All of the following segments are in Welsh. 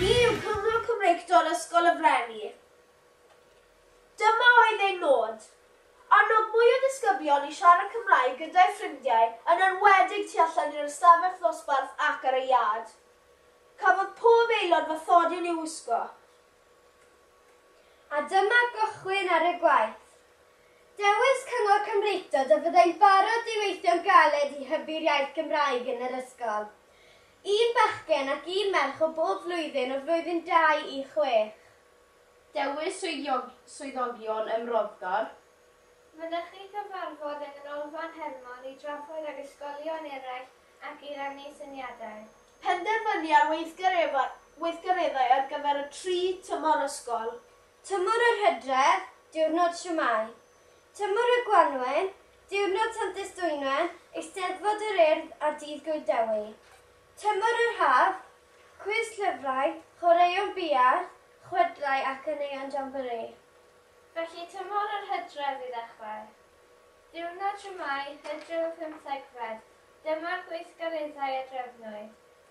Ni yw Cyngor Cymreictod Ysgol y Frenni. Dyma oedd ein nod. Annog mwy o ddisgyblion i siarad Cymraeg gyda'u ffrindiau yn enwedig tu allan i'r ystafell ddosbarth ac ar y iard. Cafodd pob aelod fathodyn i'w wisgo. A dyma gychwyn ar y gwaith. Dewis Cyngor Cymreictod y byddai'n barod i weithio'n galed i hybu'r iaith Gymraeg yn yr ysgol. Un bachgen ac un merch o bob flwyddyn o flwyddyn dau i chwech. Dewis swyddogion ym Mroddgor. Mynychu cyfarfod yng Nghanolfan Hermon i drafod ag ysgolion eraill ac i rannu syniadau. Penderfynu ar weithgareddau ar gyfer y tri tymor ysgol, Tymor yr Hydref, diwrnod siwmai. Tymor y Gwanwyn, diwrnod Sant Estwynwen, Eisteddfod yr Urdd a Dydd Gŵyl Dewi. Tymor yr Haf, cwis llyfrau, chwaraeon biard, chwedlau a chaneuon jamboree. Felly tymor yr Hydref i ddechrau. Diwrnod siwmai, Hydref y Pymthegfed, dyma'r gweithgareddau a drefnwyd.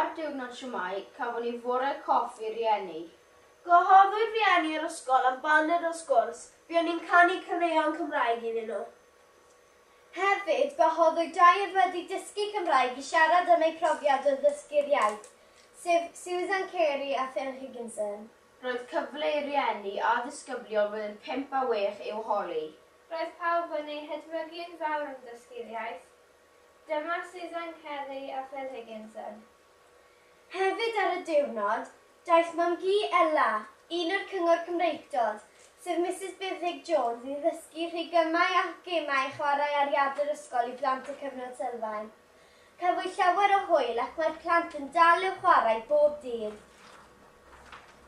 Ar diwrnod siwmai, cafon ni fore coff i rieni. Gwahoddwyd rieni yr ysgol am baned o sgwrs, buon ni'n canu caneuon Cymraeg iddyn nhw. Hefyd, gwahoddwyd dau oedd wedi dysgu Cymraeg i siarad am eu profiad o ddysgu'r iaith, sef Susan Carey a Phil Higginson. Roedd cyfle i rieni a disgyblion blwyddyn pump a wech i'w holi. Roedd pawb yn ei hedmygu'n fawr yn dysgu'r iaith. Dyma Susan Kelly a Phil Higginson. Hefyd ar y diwrnod, daeth mam-gu Ella, un o'r Cyngor Cymreictod, sef Misus Buddhig Jones i ddysgu rhigymau a gemau i chwarae ar iard yr ysgol i blant y Cyfnod Sylfaen. Cafwyd llawer o hwyl ac mae'r plant yn dal i'w chwarae bob dydd.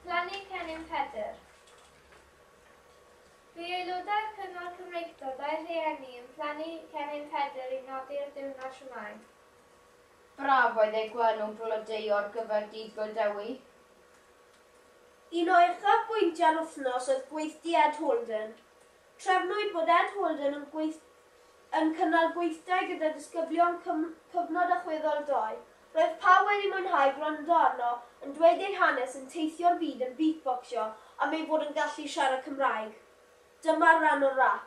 Plannu Cennin Pedr. Bu aelodau'r Cyngor Cymreictod a'u rhieni yn plannu cennin Pedr i nodi'r diwrnod siwmai. Braf oedd ei gweld nhw'n blodeuo ar gyfer Dydd Gŵyl Dewi. Un o uchafbwyntiau'r wythnos oedd gweithdy Ed Holden. Trefnwyd bod Ed Holden yn gweithdy yn cynnal gweithdai gyda disgyblion cym cyfnod allweddol dou. Roedd pawb wedi mwynhau gwrando arno yn dweud ei hanes yn teithio'r byd yn beatbocsio am ei fod yn gallu siarad Cymraeg. Dyma'r ran o'r rap.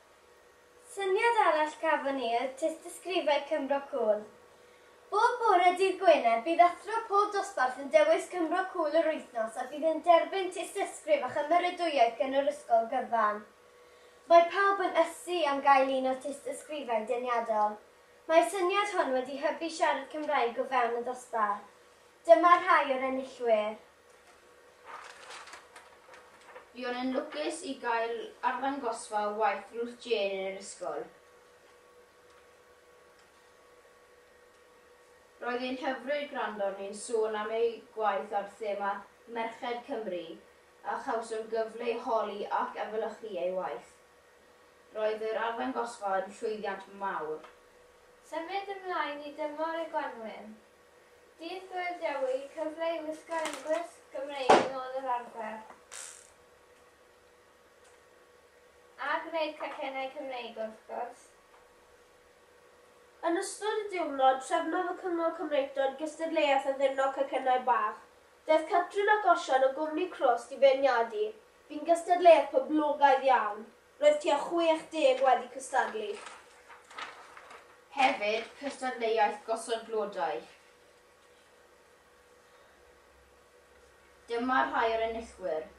Syniad arall gafon ni oedd tystysgrifau Cymro Cŵl. Bob bore dydd Gwener bydd athro pob dosbarth yn dewis Cymro Cŵl yr wythnos a bydd yn derbyn tystysgrif a chymeradwyaeth gan yr ysgol gyfan. Mae pawb yn ysu am gael un o'r tystysgrifau deniadol. Mae'r syniad hwn wedi hybu siarad Cymraeg o fewn y ddosbarth. Dyma rhai o'r enillwyr. Buon yn lwcus i gael arddangosfa o waith Ruth Jane yn yr ysgol. Roedd hi'n hyfryd gwrando arni'n sôn am ei gwaith ar thema Merched Cymru a chawsom gyfle i holi ac efelychu ei waith. Roedd yr arddangosfa yn llwyddiant mawr. Symud ymlaen i dymor y gwanwyn. Dydd Gŵyl Dewi, cyfle i wisgo eglwys Gymreig yn ôl yr arfer a gwneud cacennau Cymreig wrth gwrs. Yn ystod y diwrnod, trefnodd y Cyngor Cymreictod gystadleuaeth addurno cacennau bach. Daeth Catrin ac Osian o gwmni Crwst i feirniadu, bu'n gystadleuaeth poblogaidd iawn. Roedd tua 60 wedi cystadlu. Hefyd, cystadleuaeth gosod blodau. Dyma rhai o'r enillwyr.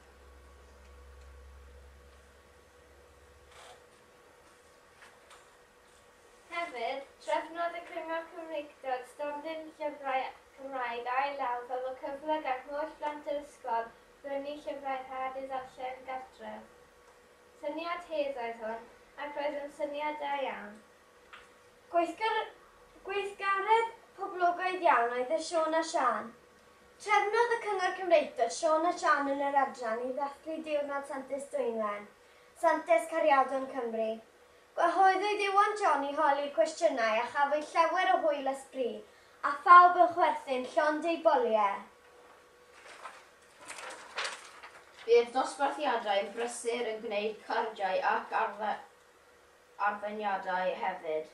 Hefyd, trefnodd y Cyngor Cymreictod stondin llyfrau Cymraeg ail law fel y cyfle gan holl blant yr ysgol brynu llyfrau rhad i ddarllen gartref. Syniad hydd oedd hwn, ac roedd yn syniad da iawn. Gweithgar- gweithgaredd poblogaidd iawn oedd e Siôn a Siân. Trefnodd y Cyngor Cymreictod Siôn a Siân yn yr adran i ddathlu Diwrnod Santes Dwynwen, Santes Cariadon Cymru. Gwahoddwyd Iwan John i holi cwestiynau a chafwyd llawer o hwyl a sbri, a phawb yn chwerthin llond eu boliau. Bydd dosbarthiadau prysur yn gwneud cardiau ac arweiniadau hefyd.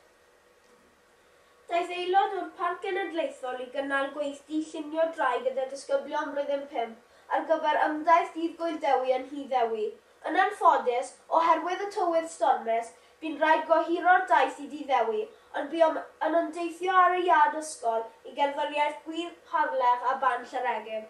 Daeth aelod o'r Parc Genedlaethol i gynnal gweithdy llunio drai gyda disgyblion Blwyddyn Pump ar gyfer ymdaith Dydd Gŵyl Dewi yn Nhŷ Ddewi. Yn anffodus, oherwydd y tywydd stormus, bu'n rhaid gohiro'r daith i Dŷ Ddewi, ond buom yn ymdeithio ar y iard ysgol i gerddoriaeth Gŵyr Harlech a Ban Llanegg.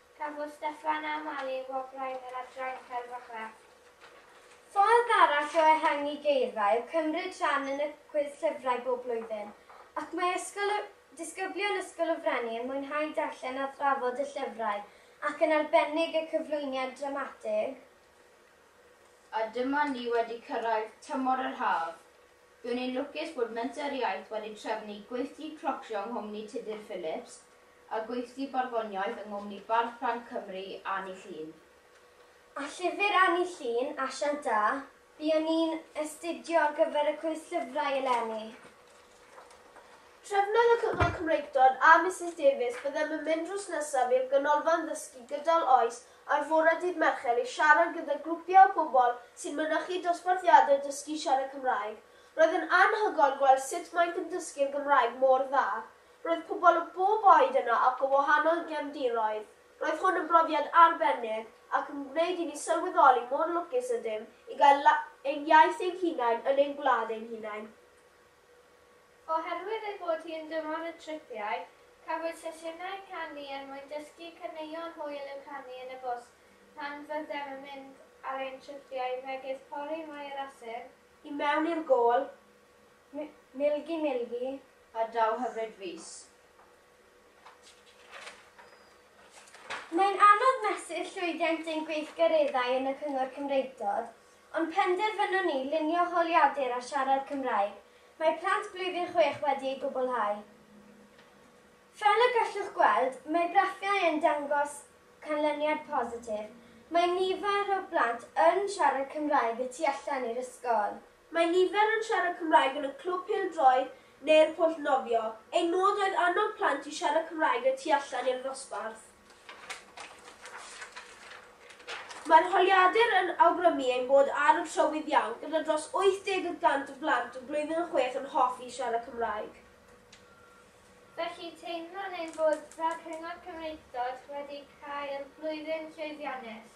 Cafodd Steffan a Mali wobrau yn yr adran Celf a Chrefft. Ffordd arall o ehangu geirfa yw cymryd rhan yn y Cwis Llyfrau bob blwyddyn, ac mae Ysgol y Disgyblion Ysgol y Frenni yn mwynhau darllen a thrafod y llyfrau ac yn arbennig y cyflwyniad dramatig. A dyma ni wedi cyrraedd tymor yr haf. Dw i'n lwcus bod Menter Iaith wedi trefnu gweithdy clocsio yng nghwmni Tudur Phillips, a gweithdy barddoniaeth yng nghwmni Bardd Ffrainc Cymru, Anni Llŷn. A llyfr Anni Llŷn, Asiant Da, buon ni'n astudio ar gyfer y cwis llyfrau eleni. Trefnodd y Cyngor Cymreictod a Misus Davies Byddem yn mynd drws nesaf i'r Ganolfan Ddysgu Gydol Oes ar fore dydd Mercher i siarad gyda grwpiau o bobl sy'n mynychu dosbarthiadau dysgu siarad Cymraeg. Roedd yn anhygoel gweld sut maent yn dysgu'r Gymraeg mor dda. Roedd pobl o bob oed yno ac o wahanol gefndiroedd. Roedd hwn yn brofiad arbennig ac yn gwneud i ni sylweddoli mor lwcus ydym i gael ein iaith ein hunain yn ein gwlad ein hunain. Oherwydd ei bod hi yn dymor y tripiau, cafwyd sesiynau canu er mwyn dysgu caneuon hwyl i'w canu yn y bws pan fyddem yn mynd ar ein tripiau megis Pori Maerasyn, i mewn i'r Gôl, Milgi milgi ar draw hyfryd fis. Mae'n anodd mesur llwyddiant ein gweithgareddau yn y Cyngor Cymreictod, ond penderfynwn ni lunio holiadur a siarad Cymraeg, mae plant blwyddyn chwech wedi ei gwblhau. Fel y gallwch gweld, mae graffiau yn dangos canlyniad positif, mae nifer o blant yn siarad Cymraeg y tu allan i'r ysgol. Mae nifer yn siarad Cymraeg yn y Clwb Pêl-droed neu'r Pwll Nofio. Ein nod oedd annog plant i siarad Cymraeg y tu allan i'r ddosbarth. Mae'r holiadur yn awgrymu ein bod ar y trywydd iawn gyda dros 80 y cant o blant o blwyddyn a chwech yn hoffi siarad Cymraeg. Felly, teimlwn ein bod fel Cyngor Cymreictod wedi cael blwyddyn llwyddiannus.